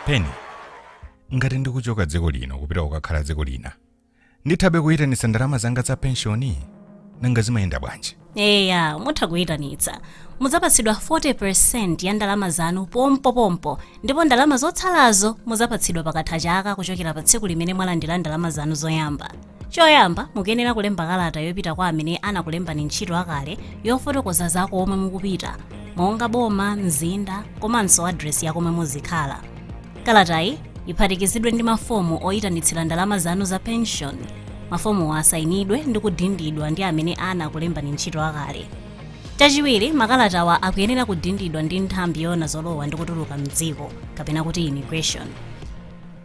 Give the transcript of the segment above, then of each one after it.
penshoni ngati ndikuchoka dziko lino kupita kukakhala dziko lina ndithabe kuyitanitsa ndalama zanga za penshoni nanga zimayenda bwanji eya mutha kuyitanitsa mudzapatsidwa 40% ya ndalama zanu pompopompo ndipo ndalama zotsalazo mudzapatsidwa pakatha chaka kuchokera pa tsiku limene mwalandira ndalama zanu zoyamba choyamba mukuyenera kulemba kalata yopita kwa amene anakulembani ntchito akale yofotokoza za komwe mukupita monga boma mzinda komanso adresi ya komwe muzikhala Kalatayi iphatikizidwe ndi mafomu oyitanitsira ndalama zanu za penshoni. Mafomuwa asayinidwe ndi kudindidwa ndi amene anakulembani ntchito akale. Chachiwiri, makalatawa akuyenera kudindidwa ndi nthambi yoona zolowa ndi kutuluka m'dziko, kapena kuti immigration.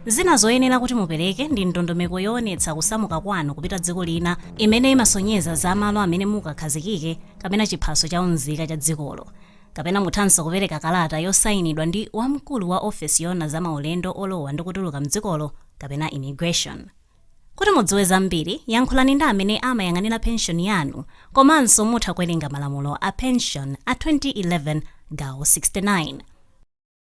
Zina zoyenera kuti mupereke ndi ndondomeko yoonetsa kusamuka kwanu kupita dziko lina imene imasonyeza za malo amene mukakhazikike kapena chiphaso cha unzika cha dzikolo. Kapena muthanso kupereka kalata yosainidwa ndi wamkulu wa ofesi yoona za maulendo olowa ndi kutuluka m'dzikolo kapena Immigration. Kuti mudziwe zambiri, yankhulani ndi amene amayang'anira penshoni yanu komanso mutha kuwerenga malamulo a penshoni a 2011 gawo 69.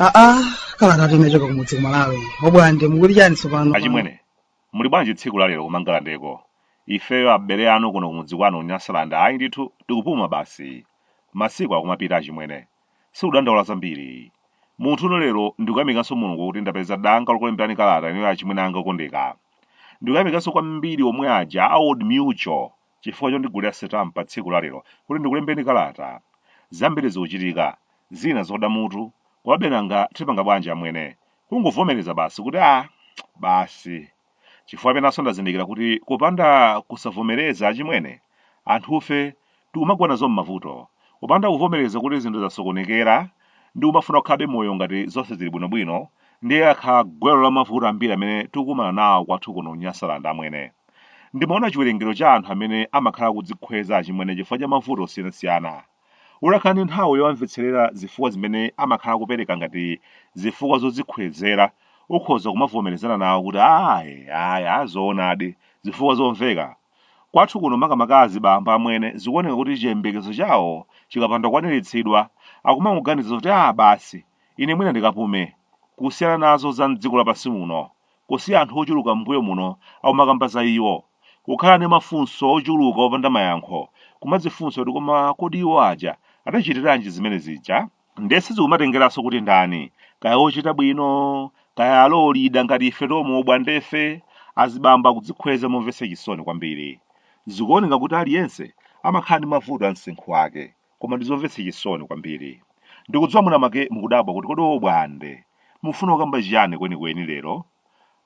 aa kalatatu imachoka kumudzi ku malawi obwande mukuti chani tsopano achimwene muli bwanji tsiku la lero kumangalandeko ifeyo abale anu kuno kumudzi kwanu nyasalanda ayi ndithu tikupuma basi masiku akumapita achimwene Sikudandaula zambiri. Muntha uno lero ndikuyamikanso Mulungu kuti ndapeza danga lokulemberani kalata inuyo achimwene anga okondeka. Ndikuyamikanso kwambiri omwe aja a Old Mutual chifukwa chondigulira sitampa tsiku la lero kuti ndikulembeni kalata. Zambiri zikuchitika, zina zoda mutu, komabe nanga tipanga bwanji amwene? Kungovomereza basi kuti ah basi. Chifukwa penanso ndazindikira kuti kupanda kusavomereza achimwene, anthufe tikumagwa nazo m'mavuto. Kupanda kuvomereza kuti zinthu zasokonekera ndi kumafuna kukhalabe moyo ngati zonse zili bwinobwino, ndiye lakhala gwero la mavuto ambiri amene tikukumana nawo kwathu kuno Nyasalanda, amwene. Ndimaona chiwerengero cha anthu amene amakhala akudzikhweza achimwene chifukwa cha mavuto osiyanasiyana. Ulakhala ndi nthawi yowamvetserera zifukwa zimene amakhala akupereka ngati zifukwa zodzikhwezera, ukhoza kumavomerezana nawo kuti aah eya zoonadi zifukwa zomveka. Kwathu kuno makamaka azibambo amwene zikuoneka kuti chiyembekezo chawo chikapanda kukwaniritsidwa akumangoganiza kuti aah basi ine mwina ndikapume kusiyana nazo za m'dziko lapansi muno kusiya anthu ochuluka m'mbuyo muno akumakamba za iwo, kukhala ndi mafunso ochuluka opanda mayankho, kumadzifunsa kuti koma kodi iwo aja adachitiranji zimene zija? Nde sizikumatengeranso kuti ndani, kaya ochita bwino, kaya a low leader ngati ife tomwe o Bwandefe, azibambo akudzikhweza momvetsa chisoni kwambiri. Zikuoneka kuti aliyense amakhala ndi mavuto a msinkhu wake. Koma ndizomvetsa chisoni kwambiri. Ndikudziwa mwinamwake mukudabwa kuti kodi o Bwande, mufuna kukamba chiyani kwenikweni lero?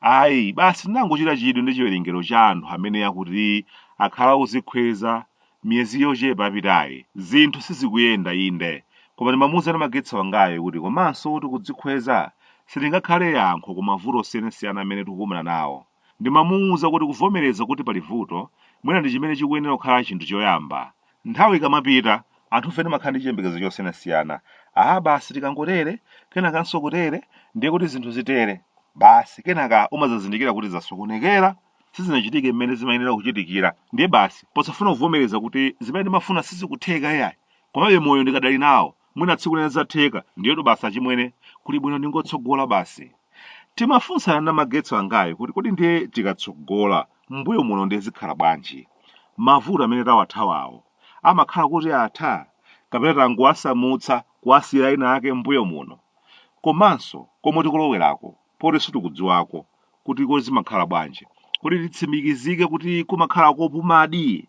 Ayi, basi ndinangochita chidwi ndi chiwerengero cha anthu amene akuti akhala akudzikhweza miyezi yochepa yapitayi. Zinthu sizikuyenda, inde, koma ndimamuuza Namagetsi wangayo kuti komanso kuti kudzikhweza silingakhale yankho ku mavuto osiyanasiyana amene tikukumana nawo. Ndimamuuza kuti kuvomereza kuti pali vuto mwina ndi chimene chikuyenera kukhala chinthu choyamba. Nthawi ikamapita, anthufe timakhala ndi chiyembekezo chosiyanasiyana. Aa basi tikangotere, kenakanso kutere, ndiye kuti zinthu zitere. Basi kenaka umadzazindikira kuti zasokonekera, sizinachitike mmene zimayenera kuchitikira. Ndiye basi posafuna kuvomereza kuti zimene ndimafuna sizikutheka iyayi, komabe moyo ndikadali nawo. mwina tsiku lina zidzatheka ndiyetu basi achimwene kuli bwino ndingotsogola basi timafunsana Namagetsi wangayo kuti kodi ndiye tikatsogola mbuyo muno ndiye zikhala bwanji mavuto amene tawathawawo amakhala kuti atha kapena tangowasamutsa kuwasiyira ena ake mbuyo muno komanso komwe tikulowerako poti sitikudziwako kuti kodi zimakhala bwanji kuti titsimikizike kuti kumakhala kopumadi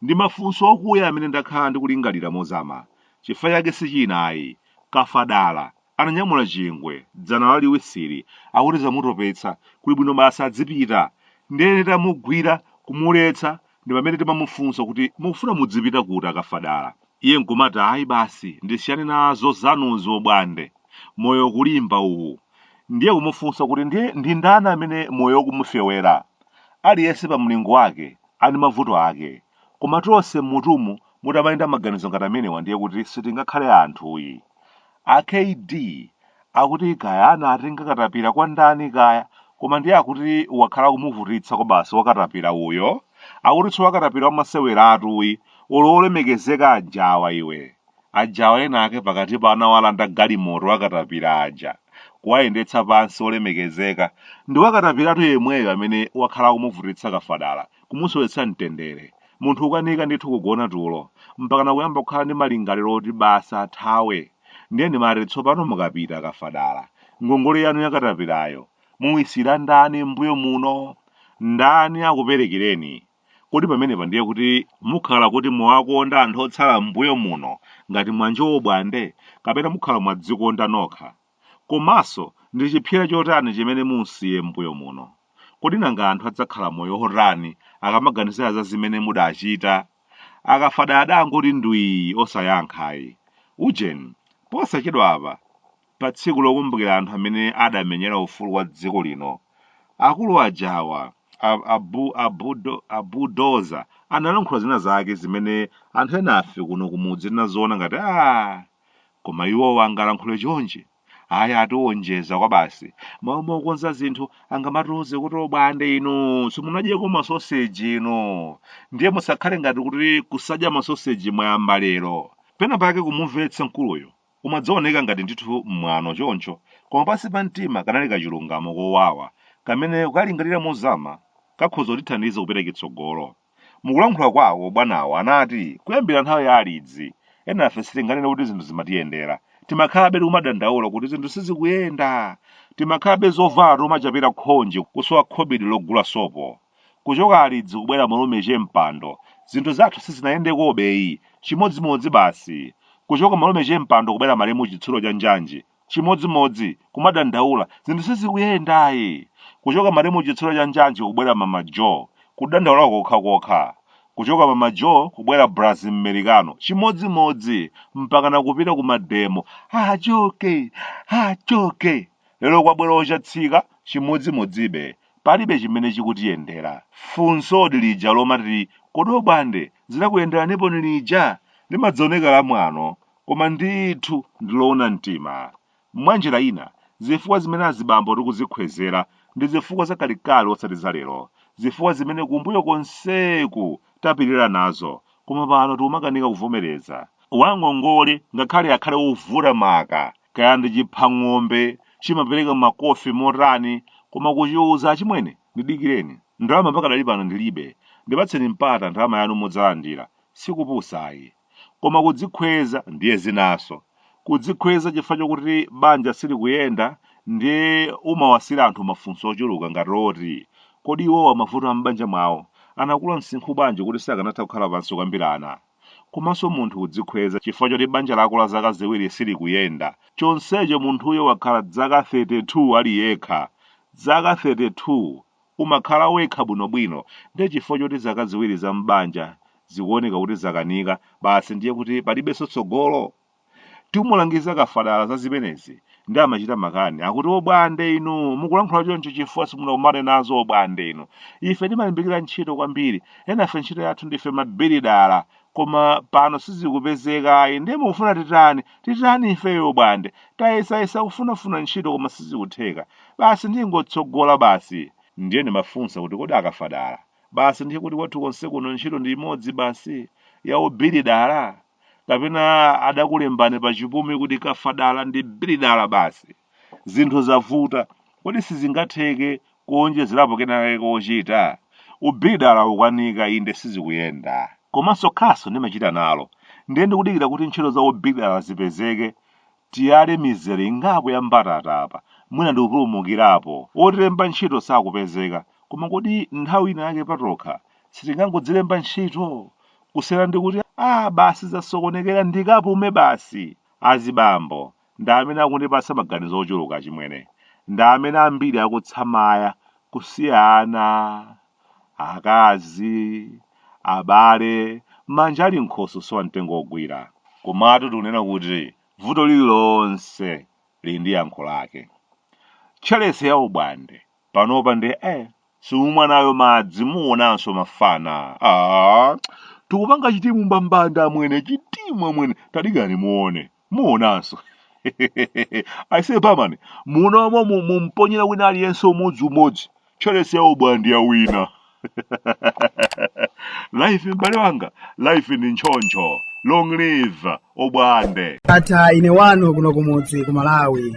Ndi mafunso okuya amene ndakhala ndikulingalira mozama. Chifukwa chake si china ayi. Kafadala, ananyamula chingwe, dzana laliwisili, akuti zamutopetsa, kuli bwino basi adzipita. Ndiye nditamugwira, kumuletsa, ndi pamene timamufunsa kuti, Mukufuna mudzipita kuti, a Kafadala? Iye nkumati, Ayi basi, ndisiyane nazo zanuzo, Bwande. Moyo ukulimba uwu. Ndiye kumufunsa kuti, Ndiye ndi ndani amene moyo ukumufewera? Aliyense pa mlingo wake. ali mavuto ake. Koma tonse mmutumu mutamayenda maganizo ngati amenewa ndiye kuti sitingakhale anthu ayi. A KD akuti kaya anatenga katapira kwa ndani kaya koma ndiye akuti wakhala akumuvutitsa kwabasi wakatapira uyo. Akuti si wakatapira wamaseweratu ayi olo olemekezeka ajawa iwe. Ajawa ena ake pakatipa anawalanda galimoto akatapira aja, kuwayendetsa pansi olemekezeka ndi wakatapiratu yemweyo amene wakhala akumuvutitsa kafadala, kumusowetsa mtendere. Munthu ukanika ndithu kugona tulo, mpakana kuyamba kukhala ndi malingaliro oti basi athawe. Ndiye ndimati tsopano mukapita kafadala, ngongole yanu yakatapirayo muisiyira ndani mmbuyo muno? Ndani akuperekereni? Kodi pamenepa ndiye kuti mukhala kuti mwawakonda anthu otsala m'mbuyo muno ngati mwanjowo bwande, kapena mukhala mwadzikonda nokha? Komanso, ndi chipsera chotani chimene mum'siye m'mbuyo muno? Kodi nanga anthu adzakhala moyo wotani akamaganizira za zimene mudachita? Akafadadangoti ndwii osayankha ayi. Ujeni, posachedwapa! Pa tsiku lokumbukira anthu amene adamenyera ufulu wa dziko lino, akulu aja awa, a, a, bu, a, budo, a Bulldozer analankhula zina zake zimene anthu enafe kuno kumudzi tinaziona ngati aah, koma iwowa angalankhule chonchi? Awa atiwonjeza kwabasi. Mmalo mokonza zinthu angamatiuze kuti obwande inu simunadyeko masoseji inu. Ndiye musakhale ngati kuti kusadya masoseji mwayamba lero. Pena pake kumumvetsa mkuluyu Umadzaoneka ngati ndithu mwano choncho, koma pansi pa mtima kanali kachilungamo kowawa kamene ukalingalira mozama kakhoza kutithandiza kupita chitsogolo. Mukulankhula kwawo bwanawo anati kuyambira nthawi ya alidzi, enafe sitinganene kuti zinthu zimatiyendera. Timakhalabe tikumadandaula kuti zinthu sizikuyenda. Timakhalabe zovala tikumachapira khonje kusowa khobidi logula sopo. Kuchoka Alidzi kubwera Malume che Mpando, zinthu zathu sizinayendekobeyi, chimodzimodzi basi. Kuchoka Malume che Mpando kubwera Malemu Chitsulo cha Njanji, chimodzimodzi, kumadandaula, zinthu sizikuyendayi. Kuchoka Malemu Chitsulo cha Njanji kubwera Mama Jo, kudandaula kokhakokha. Kuchoka Mama Jo kubwera Braz Mmericano, chimodzimodzi, mpakana kupita ku mademo, achoke! Achoke! Lero kwabwera Ochatsika, chimodzimodzibe, Palibe chimene chikutiyendera. Funsodi lija lomati kodi obwande zinakuyenderanipo liti limadzaoneka la mwano koma ndithu ndi loona mtima. Mwanjira ina, zifukwa zimene azibambo tikuzikhwezera ndi zifukwa za kalekale osati za lero, zifukwa zimene kumbuyo konseku tapirira nazo koma pano tikumakanika kuvomereza. Wangongole ngakhale akhale wovuta maka, kaya ndi chipha ng'ombe chimapereka makofi motani koma kuchiuza achimwene ndidikireni, ndalama pakadali pano ndilibe, ndipatseni mpata ndalama yanu mudzalandira, si kupusa ayi. Koma kudzikhweza ndiye zinaso. Kudzikhweza chifukwa chokuti banja silikuyenda ndiye umawasiyira anthu mafunso ochuluka ngati oti, Kodi iwowa mavuto a m'banja mwawo anakula msinkhu bwanji kuti sakanatha kukhala pansi kukambirana? Komanso munthu kudzikhweza chifukwa choti banja lako la zaka ziwiri silikuyenda, chonsecho munthuyo wakhala dzaka 32 ali yekha! Dzaka 32! umakhala wekha bwinobwino nde chifukwa choti zaka ziwiri za m'banja zikuoneka kuti zakanika basi ndiye kuti palibenso tsogolo? Timulangiza Kafadala za zimenezi nde amachita makani akuti obwande inu mukulankhula choncho chifukwa simunakumane nazo obwande inu. Ife timalimbikira ntchito kwambiri, enafe ntchito yathu ndife mabilidala koma pano sizikupezeka ayi ndiye mukufuna titani titani ifeyo bwande tayesayesa kufunafuna ntchito koma sizikutheka basi ndi yongotsogola basi ndiye ndimafunsa kuti kodi a Kafadala basi ndiye kuti kwathu konse kuno ntchito ndi imodzi basi ya ubilidala kapena adakulembani pa chipumi kuti Kafadala ndi bilidala basi Zinthu zavuta, kodi sizingatheke kuonjezerapo kenake kochita? Ubilidala ukukanika, inde sizikuyenda. Komanso khasu ndimachita nalo, ndiye ndikudikira kuti ntchito za ubilidala zipezeke, tiyale mizere ingapo ya mbatata apa, mwina ndi kupulumukirapo. Otilemba ntchito sakupezeka, koma kodi nthawi ina yake patokha sitingangodzilemba ntchito? Kusiyana ndi kuti, ah basi zasokonekera ndikapume basi! Azibambo, Ndi amene akundipatsa maganizo ochuluka achimwene. Ndi amene ambiri akutsamaya kusiya ana, akazi, abale, manja ali m'nkhosi kusowa mtengo wogwira. Komatu tikunena kuti vuto lililonse lili ndi yankho lake. Tcheresi ya obwande panopa ndiye simumwa nayo madzi muonanso mafana. Ah, tikupanga chitimu mbambande amwene, chitimu amwene, tadikirani muone. muonanso aise barman muno momu mumponyera wina aliyense umodzi umodzi tcheresi ya obwande yawina life m'bale wanga life ndi ntchoncho long live obwande akatha ine wanu kuno kumudzi ku malawi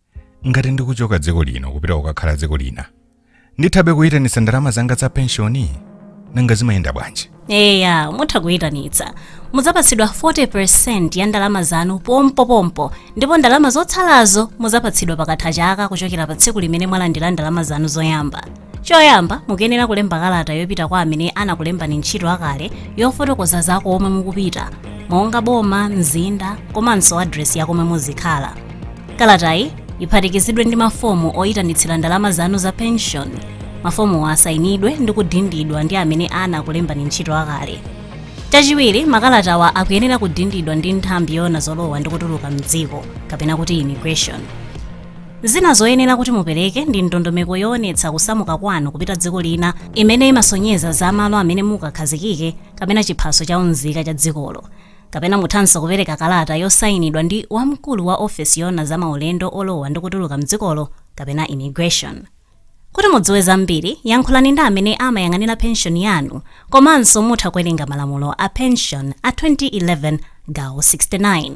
ngati ndikuchoka dziko lino kupita kukakhala dziko lina ndithabe kuyitanitsa ndalama zanga za penshoni nanga zimayenda bwanji eya mutha kuyitanitsa mudzapatsidwa 40 ya ndalama zanu pompopompo ndipo ndalama zotsalazo mudzapatsidwa pakatha chaka kuchokera pa tsiku limene mwalandira ndalama zanu zoyamba choyamba mukuyenera kulemba kalata yopita kwa amene anakulembani ntchito akale yofotokoza za komwe mukupita monga boma mzinda komanso adresi ya komwe muzikhala kalatayi iphatikizidwe ndi mafomu oyitanitsira ndalama zanu za pension mafomuwa asayinidwe ndi kudindidwa ndi amene anakulembani ntchito akale chachiwiri makalatawa akuyenera kudindidwa ndi nthambi yoona zolowa ndi kutuluka mdziko kapena kuti immigration Zina zoyenera kuti mupereke ndi ndondomeko yoonetsa kusamuka kwanu kupita dziko lina imene imasonyeza za malo amene mukakhazikike kapena chiphaso cha unzika cha dzikolo. Kapena muthanso kupereka kalata yosainidwa ndi wamkulu wa ofesi yoona za maulendo olowa ndi kutuluka m'dzikolo kapena Immigration. Kuti mudziwe zambiri, yankhulani ndi amene amayang'anira penshoni yanu komanso mutha kuwerenga malamulo a penshoni a 2011 gawo 69.